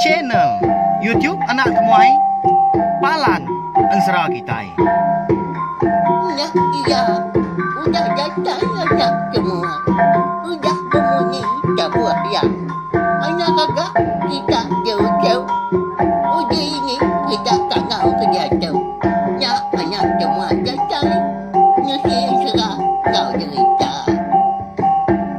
Channel YouTube Anak Temuai Palan Ensera Kitai. Ulah iya udah datai anak temuai. Udah bemunyi tabuh iya. Anak gaga kita jauh-jauh. Udah ini kita tangau ke diatu. Nya anak temuai datai. Nusi ensera enggau derita.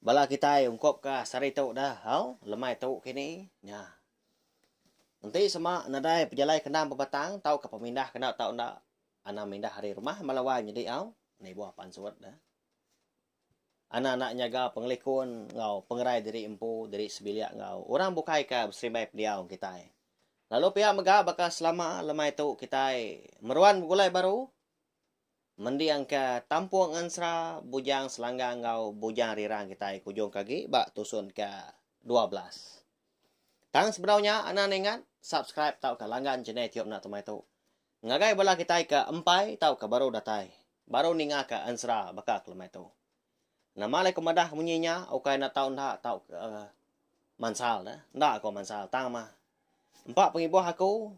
Bala kitai ungkup ka sehari tu dah hau lemai tu kini nya. Enti sema nadai pejalai ke endang bebatang tau ka pemindah ke enda tau enda anang mindah ari rumah bala wai nyadi hau nibuh pansut dah. Anang enda nyaga pengelikun enggau pengerai diri empu diri sebilik enggau orang bukai ka beserimbai pendiau enggau kitai. Lalu pia mega baka selama lemai tu kitai meruan begulai baru Mendingka Tampung Ngensra, Bujang Selangga enggau Bujang Rirang kitai ke ujungka agi ba tusun ke dua belas. Tang sebedau nya anak ningat subscribe tauka langgan channel Tiup Enda Temai tu. Ngagai bala kitai ke empai tauka baru datai, baru ningaka Ensra baka ke lemai tu. Nama alai ku madah munyi nya ukai enda tau enda tau mansal dah. Enda ko mansal tang mah empa pengibuh aku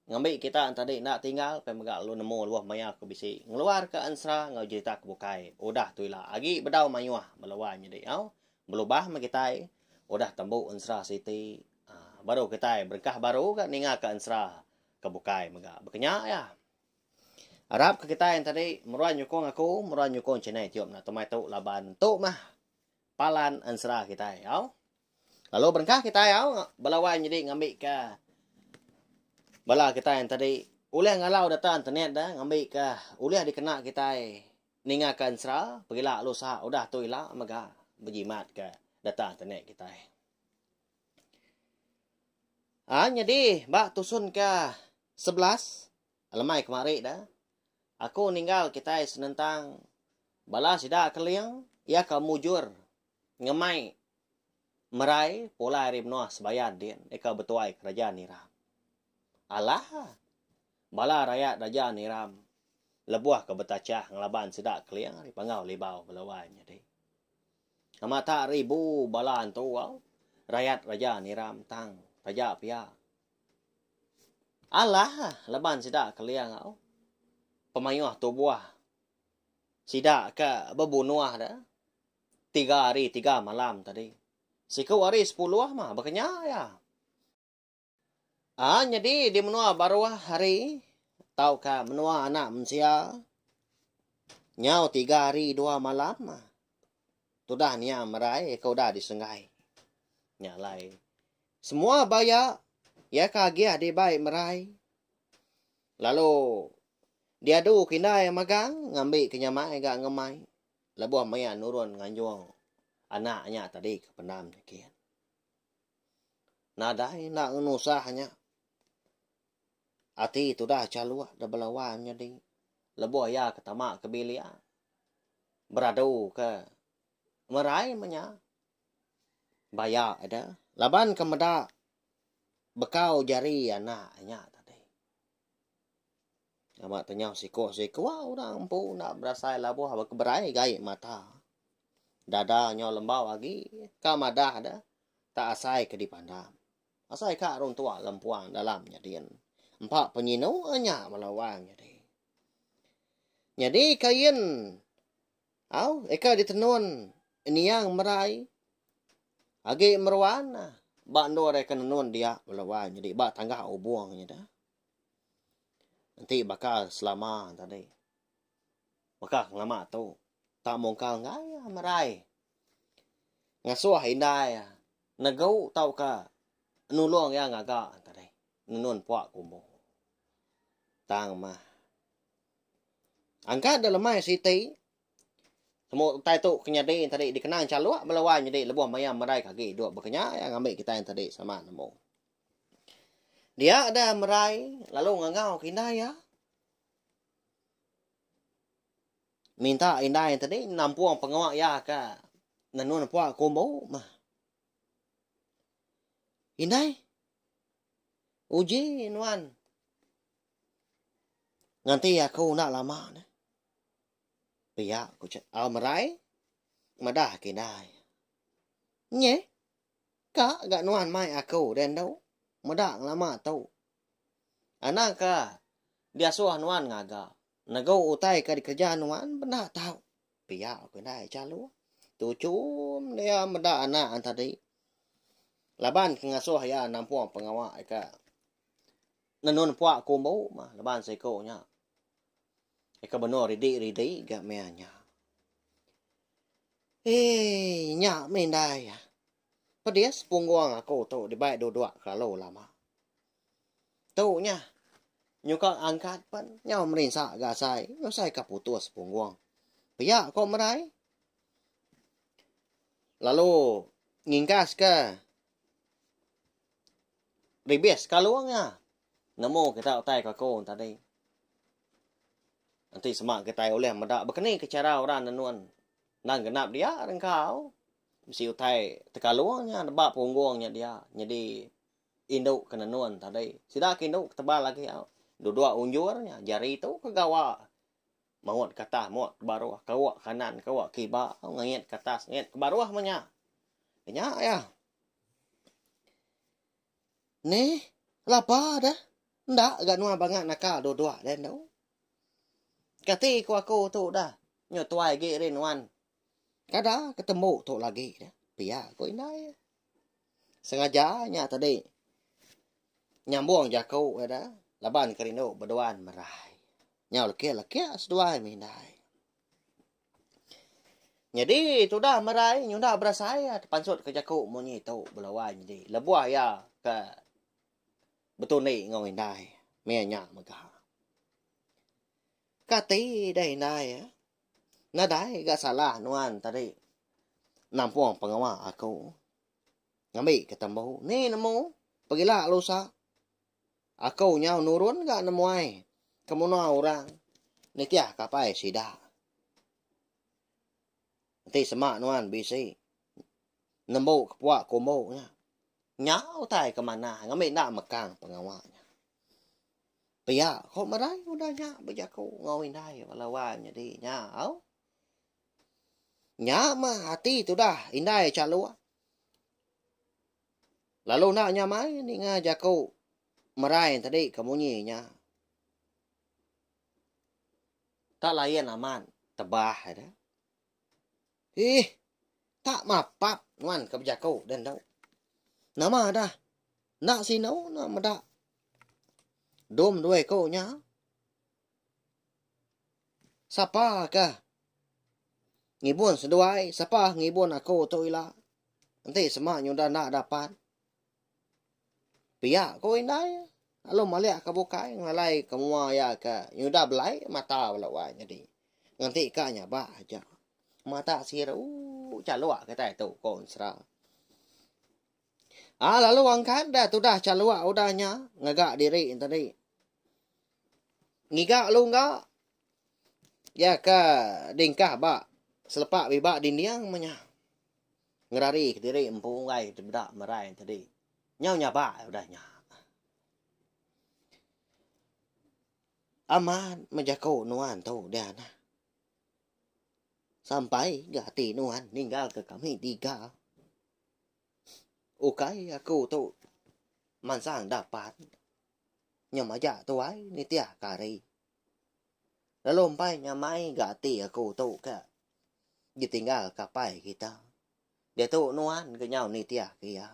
ngambi kita enti adi enda tinggal pia mega lalu nemu luah maya ku bisi ngeluar ka ensera enggau jerita ke bukai udah tu ila agi bedau mayuh bala wai nyadi nyau belubah meh kitai udah tembu ensera siti aaa baru kitai berengkah baru ga ninga ka ensera ke bukai mega. Baka nya iya. Arap ke kitai enti tadi meruan nyukung aku, meruan nyukung channel iTube na temai tu laban tu mah palan ensera kitai au. Lalu berengkah kitai au bala wai nyadi ngambika bala kitai enti tadi ulih ngalau data internet da ngambika ulih dikena kitai ningaka ensera pegila lalu saha udah tu ila mega bejimatka data internet kitai. A nyadi ba tusunka sebelas Alemai kemari da, aku ninggal kitai senentang bala sida keling iya ka mujur ngemai merai pulai ari menoa sebayan din ika betuai keraja niram. Alah, bala rayat raja niram lebuh ka betachah ngelaban sida keling ari panggau libau bala wai nyadi. Amata ribu bala antu au rayat raja niram tang taja pia Alah laban sida kelia enggau pemayuh tubuh sida ke bebunuh da tiga hari tiga malam tadi. Siku hari sepuluh mah bekenya iya. Aa nyadi di menua baruh hari tauka menua anak mensia nyau tiga hari dua malam mah tudah nia merai ke udah disenggai. Nya alai. Semua ba iya, iya ke agih dibai merai. Lalu diadu ke indai magang ngambi ke nyamai ga ngemai lebuh maya nurun nganjung anak nya tadi ke pendam nyikin. Nadai enda ngenusah nya. Ati tudah Chaluk da bela wai menyadi lebuh iya ke tama ke bilik beradu ke merai menya. baya ida laban ke meda bekau jari anak inya tadi. Nama tanya siku siku orang empu enda berasai labuh ba keberai gai mata. Dada nyau lembau agi ka madah da tak asai ke dipandang. Asai ka orang tua lempuang dalam nyadin. Empa penyinu nya bala orang nyadi. Nyadi kain Au, eka ditenun Niang Merai agi meruan ba endur iya ke nenun dia bela wai nyadi ba tanggah Ubong nya da. Enti baka selama tadi. Baka ngelama tu tak mungkal enggai iya Merai ngasuh indai iya negu tauka nulung iya ngaga tadi nenun puak ke Ubong. Tang mah. Angka da lemai siti, semua utai tu ke nyadi tadi dikenang Chaluk bala wai nyadi lebuh maya merai ke agi duduk baka nya iya ngambi kitai tadi sama nemu. Dia deh merai lalu ngangau ke indai iya. Minta indai tadi nampung pengawa iya ke nenun pua ke umbu meh. Indai, uji nuan. Nganti aku enda lama neh. Pia ku Chet Al merai madah ke indai. Nyeh. Ka ga nuan mai aku deh endu. Meda ngelama tu. Anang ka diasuh nuan ngaga. Negu utai ka dikereja nuan pun enda tau. Pia ku indai Chaluh. Tuchum dia meda anak tadi. Laban ke ngasuh iya nampung pengawa ka. Nenun pua ku embu mah laban seiku nya. Eka benor ridi ridi ga meh nya. Eii nya meh indai. Pedis punggung aku tu dibai duduk kelalu lama. Tu nya nyuka angkat pen nyau merinsa ga asai usai ka putus punggung. Pia ko merai. Lalu ngingkas ke. Bibis sekalu nya nemu kita utai kaku tadi. Enti sema kitai ulih meda bekeni ke chara orang nenun endang genap dia ri engkau mesti utai tekalu nya neba punggung nya dia nyadi indu ke nenun tadi. Sida ke indu ke tebal agi au dudok unjur nya jari tu ke gawa maut ke atas maut ke baruh kawa kanan kawa kiba ngait ke atas ngait ke baruh meh nya. Nya yah. Ni, laba deh. Enda ga nuan banga naka dua-dua deh endo. Kati ku aku tu udah nyetuai agi ri nuan. Kada ke tembu tu lagi deh. Pia ku indai. Sengaja nya tadi nyambung jaku iya deh laban ke rindu beduan merai. Nyau lekik-lekik seduai mih indai. Nyadi tudah merai nyunda berasai iya tepansut ke jaku munyi tu bela wai nyadi lebuh iya ke betundi enggau indai meh iya nya mega. Kati deh indai iya nadai ga salah nuan tadi nampung pengawa aku ngambi ke tembu ni nemu pegila lusa. Aku nyau nurun ga nemuai kemuna orang nitih kapai sida. Enti sema nuan bisi nembu kepua kumbu nya, nya utai ke manah ngambi enda mekang pengawa nya. Pia ku merai udah nya bejaku enggau indai bala wang nyadi nya au. Nya mah ati tudah indai Chaluk. Lalu enda nya mai ninga jaku merai tadi ke munyi nya. Tak layan amat tebah ai dah. Ih. Tak mapap nuan ke bejaku dah endu. Nama dah. Enda sinu enda meda. Dom dua iku nya. Sapa ke ngibun seduai, sapa ngibun aku tu ila. Enti sema nyudah enda dapat. Pia ku indai lalu malik ke bukai ngalai ke mua iya ke nyudah belai mata bala wai nyadi. Ngenti ka nyabak aja. Mata siru chaluk kitai tu ku ensera. Ah lalu angkat dah tudah chaluk udah nya ngaga diri tadi. Ngiga lungga ya ke dingkah ba selepa biba dinding menya. Ngerari ke diri empu unggai tebeda merai tadi. Nyau nyaba udah nya. Amat mejaku nuan tu dia nah. Sampai ga ati nuan ninggal ke kami tiga. Ukai aku tu mansang da pan. Nya maja tuai nitih ka hari. Lalu empai nya mai ga ati aku tu ka ditinggal ka pai kita. Dia tu nuan ke nyau nitih ke iya.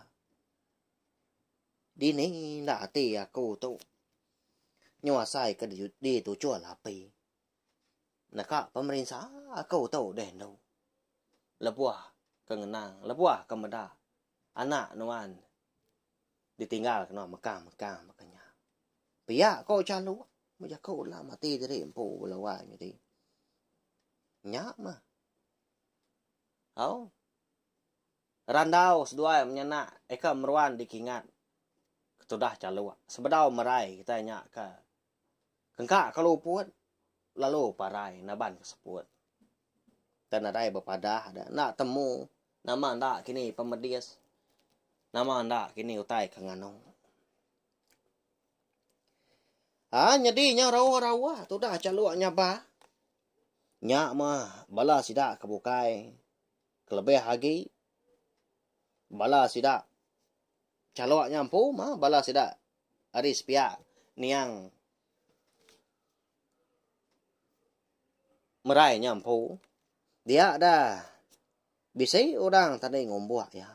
Dini enda ati aku tu. Nyu asai ke dituchul api. neka pemerinsa aku tu deh endo. Lebuh ke ngenang, lebuh ke meda anak nuan ditinggal kena mekang-mekang baka nya. Pia ko Calu, bejaku ulah mati diri empu bala wai nyadi. Nya mah. Au. Randau seduai menyanak eka meruan dikingat ketudah Calu. Sebedau merai kita nya ke Engka ke luput, lalu parai naban ke seput. Te nadai bepadah de, enda temu nama enda kini pemedis, nama enda kini utai ke nganu. Ha, nyadi nya rawa-rawa tudah chaluk nya ba. Nya mah bala sida ke bukai kelebih agi. Bala sida chaluk nya empu mah bala sida Ari sepiak, niang merai nya empu dia da bisi orang tading umbuk iya.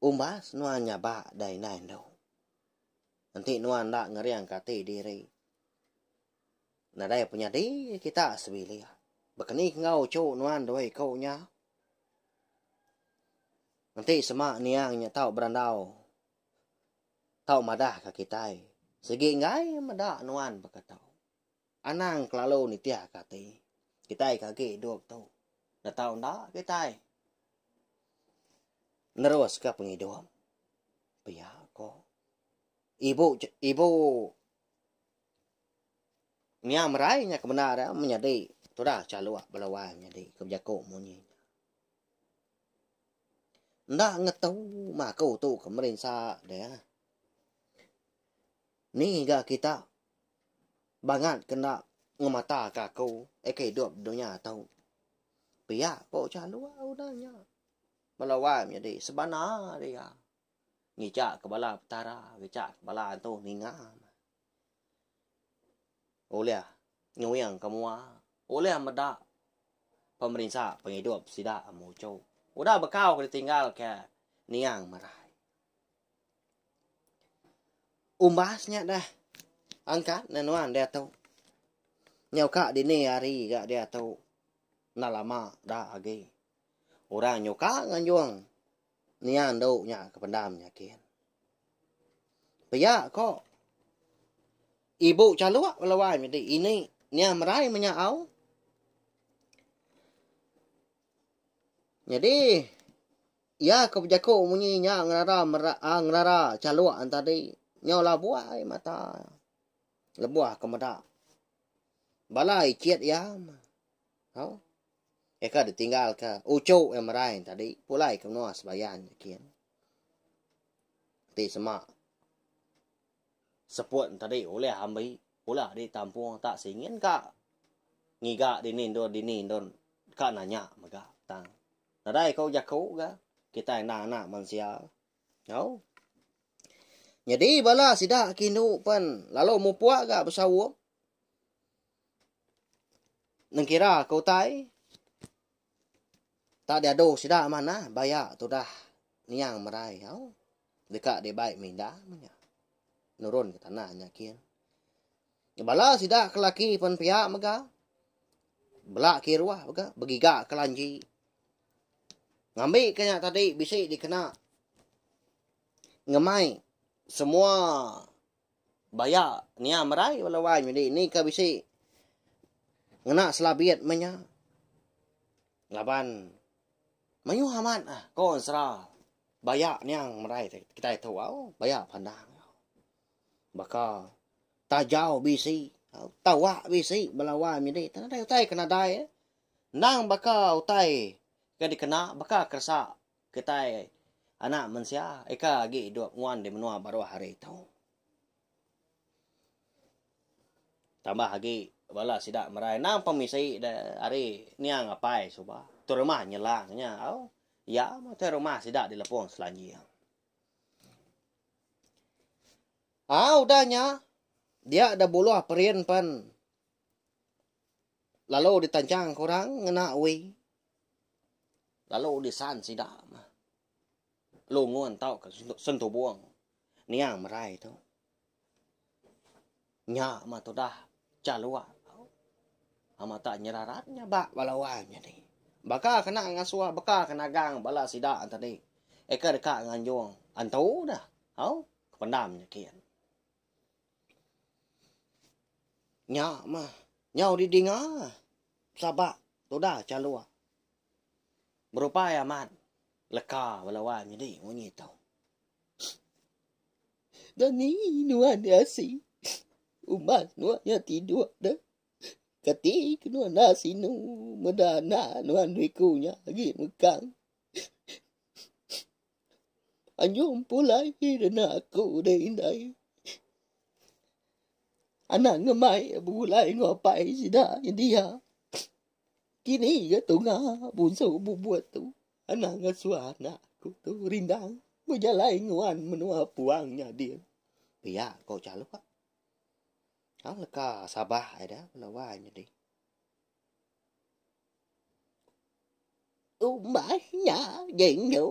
Umbas nuan nyaba da indai endu. Enti nuan enda ngeringka ati diri, nadai penyadi kita sebilik. Bekeni enggau uchu nuan dua iku nya. Enti sema niang nya tau berandau tau madah ka kitai sigi enggai meda nuan baka tu. Anang kelalu nitih ka ati. Kitai ke agi idup tu enda tau enda kitai nerus ka pengidup. Pia ko. Ibu ibu Nya merai nya ke bendar menyadi tudah chaluk bala wang nyadi ke bejaku munyi. Enda ngetu mah aku tu ke merinsa dia. Ni ga kita bangat ke enda ngemata ke aku aka idup dunya tu. Pia ko ucah dua udah nya. Bala wai menyadi sebana dia. Ngicak ke bala petara, ngicak ke bala antu ninga. Ulih nyuing ke mua, ulih meda pemerinsa pengidup sida muchu. Udah bekau ke ditinggal ke niang merai. Umbas nya deh angkat ne nuan diatu. Nyau ka dini hari ga diatu. Enda lama da agi. Orang nyuka nganjung. Nia endu nya ke pendam nyakin. Pia ko ibu chaluk bala wai medi ini nia merai menya au. Nyadi iya ke bejaku munyi nya ngelara mera, ah, ngelara chaluk tadi nyau labuai mata lebuh ke meda bala icit iya. Au. Iya ka ditinggalka uchu iya merai tadi pulai ke menua sebayan nya kin. Ti sema seput tadi ulih ambi pula di tampung tak singin ka ngiga dini endur dini endur ka nanya mega tang. Nadai ko jaku ga kitai enda anak mensia. Au. Nyadi bala sida ke indu pen lalu mupuk ga besaum. Nengkira ke utai tak diadu sida manah baya tudah niang merai au deka dibai minda manya nurun ke tanah nya kin. Bala sida ke laki pen pia mega bela kiruh mega begiga ke lanji ngambi ke nya tadi bisi dikena ngemai semua Baya nia merai bala wan nyadi ni ka bisi ngena selabit meh nya. Laban mayuh amat ah ko ensera baya nia merai kitai tu au baya pandang baka tajau bisi au tawa bisi bala wan nyadi tang nadai utai ke nadai endang baka utai ke dikena baka keresa Kitai anak mensia ika agi idup nguan di menua baruh hari tu. Tambah agi bala sida merai endang pemisi de ari niang apai suba tu rumah nyelang nya au iya meh utai rumah sida di Lepong Selanjing. Au udah nya dia da buluh perin pen. lalu ditanchang ke orang ngena ui lalu disan sida mah lungun tauka sentubung niang merai tu nya mah tudah chalua amat tak nyerarat nya ba bala wang nyadi baka kena ngasua baka ke nagang bala sida tadi eka deka nganjung antu dah au kependam nya kian. Nya mah nyau didinga sabak tudah chaluk berupai amat leka bala wai nyadi munyi tu. Dani nuan nya asi umbas nuan nya tiduk deh keti ke nuan enda sinu meda anak nuan riku nya agi mekang. Anyum pulai dina aku deh indai. Anak ngemai begulai enggau apai sida nyendia. Kini ga tunga bunsu bubut tu anang ngasua anak aku tu rindang bejalai nguan menua puang nya din. Pia ko Chaluk. Tang leka Sabah ai da penawai nya dih. Umbas nya diindu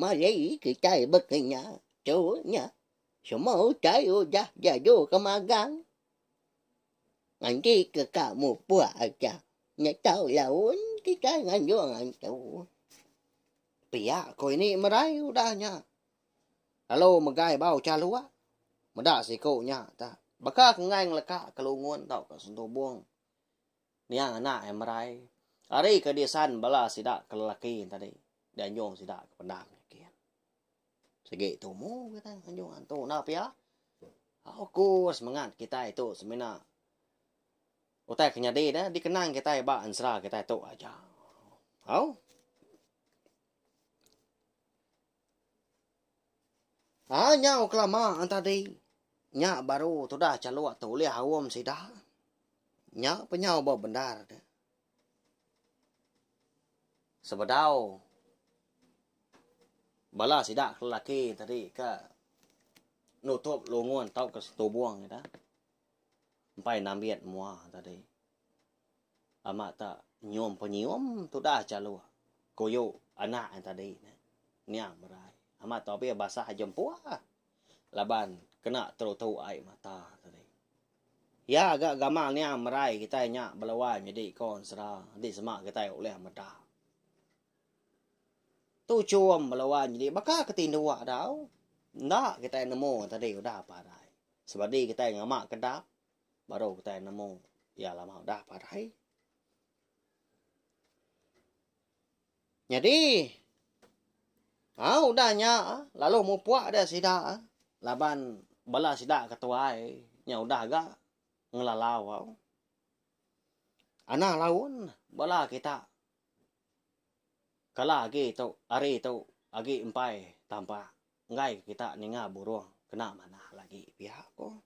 mari kitai bekenya tu nya semua utai udah diadu ke magang nganti ke ka mupuk aja nya tau laun kitai nganjung antu pia ko ini merai udah nya Lalu megai ba ucha lua. Meda siku nya ta. Baka ke enggai ngeleka ke lungun tauka sentubung niang anak iya merai. Ari ke disan bala sida ke lelaki tadi dianjung sida ke pendam nyikin. Sigi tumu kita nganjung antu enda pia. Oku semengat kitai tu semina utai ke nyadi dah dikenang kitai ba ensera kitai tu aja. Au. Ah nyau kelama tadi nya baru tudah chaluk tu ulih aum sida. Nya pun nyau ba bendar tu. Sebedau bala sida ke lelaki tadi ke nutup lungun tauka setubung ida. Empai nambit mua tadi. Ama ta nyium penyium tudah chaluk kuyu anak ain tadi neh. Nya merai. Ama ta obih basah jempua laban kena terutu ai mata tadi. Iya ga gamal nya merai kitai nya belawan nyadi konsera enti sema kitai ulih meda. Tu chum belawan nyadi baka ke tinduk dau enda kitai nemu tadi udah parai sebadi kitai ngama kedap. Baru utai nemu iya lama udah padai. Nyadi au udah nya lalu mupuk dia sida laban bala sida ke tuai nya udah ga ngelalau au. Anang laun bala kita kala agi tu hari tu agi empai tampak. Enggai kita ninga burung kena manah lagi pia ko.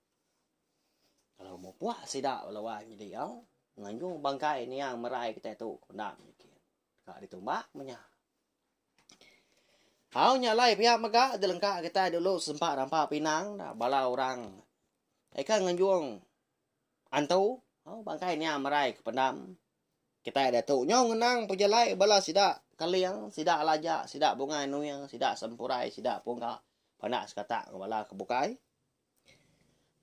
Kalau mupuk sida bala wai nyidi au nganjung bangkai niang merai kitai tu ko enda menikin. Ka ditumbak menya. Au nya alai pia mega jelengka kitai dulu sempa rampa pinang da bala orang eka nganjung antu au bangkai niang merai ke pendam Kitai diatu nyau ngenang pejalai bala sida Kaling, sida Laja, sida Bungai Nuing, sida Sempurai, sida Pungga pandak sekata enggau bala ke bukai.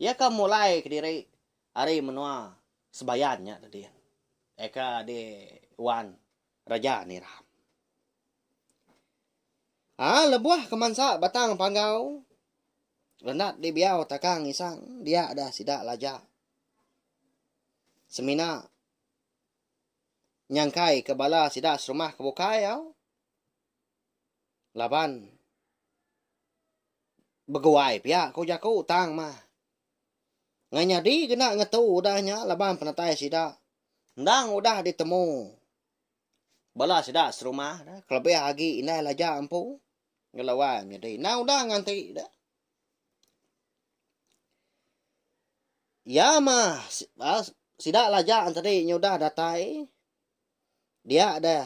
Iya ka mulai kediri ari menua Sebayan nya tadi. Eka di Wan Raja Niram. Ah, lebuh kemansa batang panggau, Lenat di Biau Takang Isang, dia dah sida Laja, Semina nyangkai ke bala sida serumah ke bukai au laban beguai pia ku jaku tang mah. Ngai nyadi kena ngetu udah nya laban penatai sida endang udah ditemu. Bala sida serumah kelebih agi indai laja empu ngelawai menyadi indai udah nganti dah. Ya mah ah, sida laja tadi nyudah datai dia dah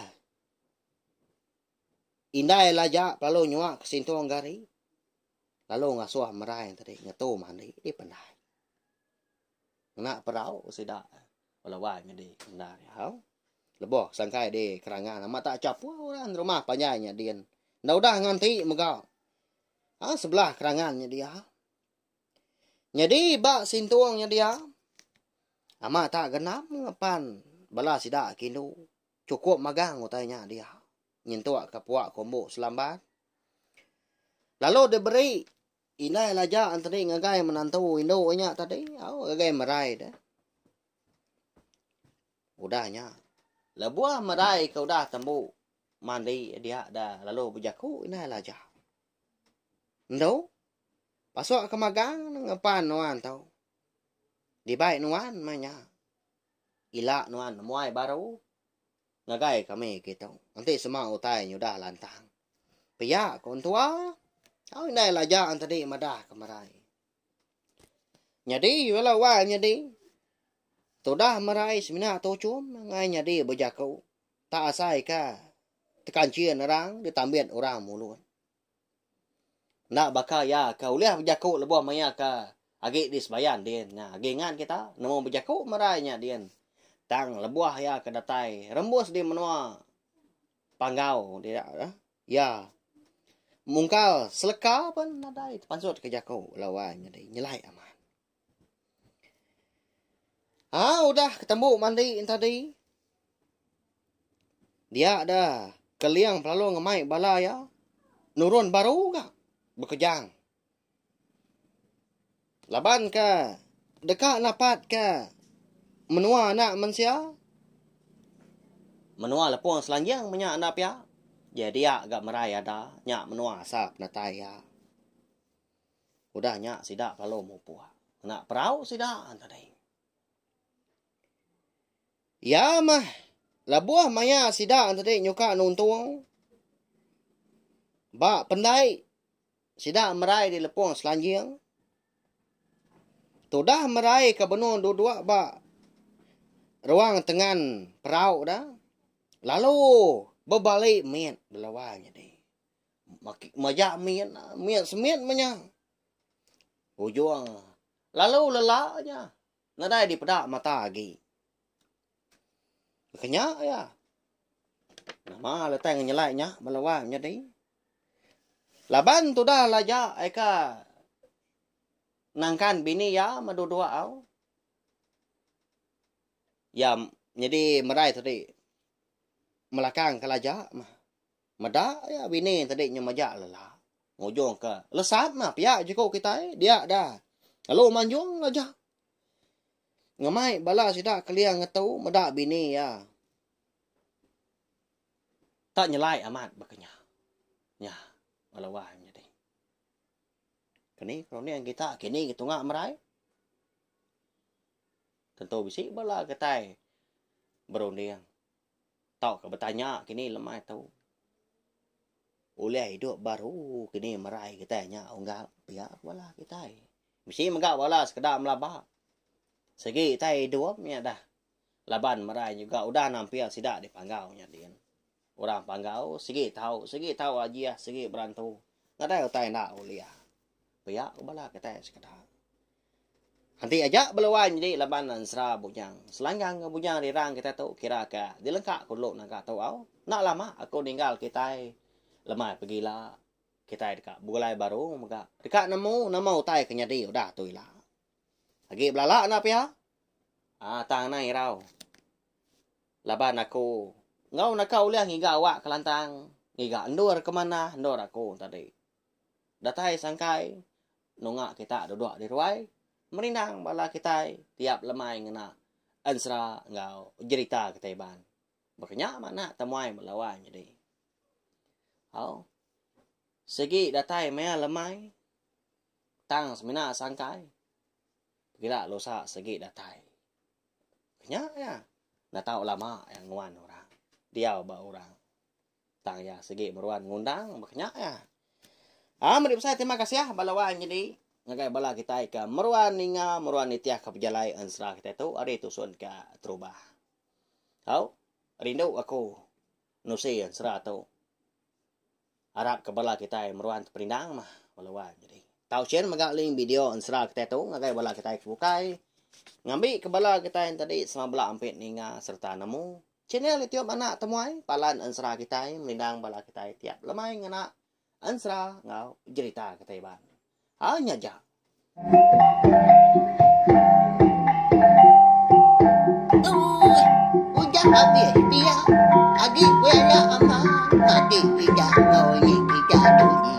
indai laja lalu nyuak ke sintung gari lalu ngasuh merai tadi ngetu mandi dipendai. ngena perau sida belawan nyadi enda diau. Leboh sangkai di kerangan amat tak chapu orang rumah panjai nya din. Enda udah nganti mega. Ha sebelah kerangan nya dia. Nyadi ba sintung nya dia amat tak genam ngepan bala sida kindu cukup magang utai nya dia nyentuk ka puak kombo selambat. Lalu diberi Indai Laja enteri ngagai menantu indu nya tadi, au ngagai merai deh. Udah nya, lebuh merai ke udah tembu mandi dia dah lalu bejaku Indai Laja. Indu, pasuk ke magang ngepan nuan tu. Dibai nuan meh nya. Ila nuan nemuai baru. Ngagai kami kitu enti sema utai nyudah lantang. Pia ku entua au indai laja entedi madah ke merai. Nyadi bala wang nyadi tudah merai semina tuchum ngai nyadi bejaku tak asaika tekanchin orang ditambit orang mulun. Enda baka iya ke ulih bejaku lebuh maya ke agi di sebayan din nya. Agi ngan kita nemu bejaku merai nya din. Tang lebuh iya ke datai rembus di menua Panggau ti nya tu, iya mungkal seleka pun nadai tepansutka jaku lawan nyadi nyelai amat. Ah udah ketembu mandi tadi. Dia dah keling pelalu ngemai bala iya. Nurun baru ga bekejang. Laban ke deka napat ke menua anak mensia. Menua lepung selanjang menya enda pia. Jadi ga merai ada nya menua asa penatai iya. Udah nya sida lalu mupuk ngena perau sida tadi. Iya mah lebuh maya sida tadi nyuka nuntung ba pendai sida merai di lepung selanjing. Tudah merai ke benung duduk ba ruang tengan perau dah lalu bebali mit belawa nyadi. Maki maja min min semit menya. Ujung lalu lela nya. Nadai dipeda mata agi. Kenya ya. Nama letai ngenyelai nya bala wang nyadi. Laban tudah laja eka nangkan bini ya madu dua au. Ya nyadi merai tadi melakang kelaja mah. Meda iya bini tadi nyau majak lelak. Ngujung ke lesat mah piak jeku kitai. Dia da. Lalu manjung ngajak. Ngemai bala sida kelia ngetu meda bini iya. Tak nyelai amat baka nya. Nya. Bala wai menyadi. Kini keruning kita kini ke tunga merai. Tentu bisi bala kitai berunding. Tauka betanya kini lemai tu. Ulih idup baru kini merai kitai nya unggal pia ke bala kitai. Mesti mega bala sekeda melaba. Segi kitai idup nya dah laban merai juga udah nampil sida dipanggau nya din. Orang panggau segi tau, segi tau ajih, segi berantu. Nadai utai enda ulih. Pia ke bala kitai sekeda. Enti aja bela wan nyadi laban ensera bujang. Selanggang enggau bujang rirang kitai tu kira ka dilengka ku dulu naga tu au. Enda lama aku ninggal kitai lemai pegila. Kitai deka begulai baru mega deka nemu nama utai ke nyadi udah tu ila. Agi belala enda pia aaa tang anang irau laban aku enggau naka ulih ngiga awak kelantang, ngiga endur ke manah, endur aku tadi. Datai sangkai nunga kita duduk di ruai merindang bala kitai tiap lemai ngena ensera enggau jerita kitai iban. Baka nya manah temuai ba lawan nyadi. Au. Sigi datai maya lemai tang semina sangkai pekila lusa sigi datai. Nya iya. Nda tau lama iya nguan orang. Diau ba orang. Tang iya sigi meruan ngundang baka nya iya. Ah meri besai terima kasih ah bala wang nyadi ngagai bala kitai ke meruan ninga meruan nitih ka pejalai ensera kitai tu ari tusun ka terubah. Au rindu aku nusi ensera tu. Arap ke bala kitai meruan teperindang mah bala wang nyadi. Tau sien mega link video ensera kitai tu ngagai bala kitai ke bukai ngambi ke bala kitai tadi sama bala ampit ninga serta nemu Channel YouTube Anak Temuai Palan Ensera kitai menindang bala kitai tiap lemai ngena ensera enggau jerita kitai iban. Hai nya ja. Ooh ujak agi pia agi pia ya aman agi ijak ngau igi ijak.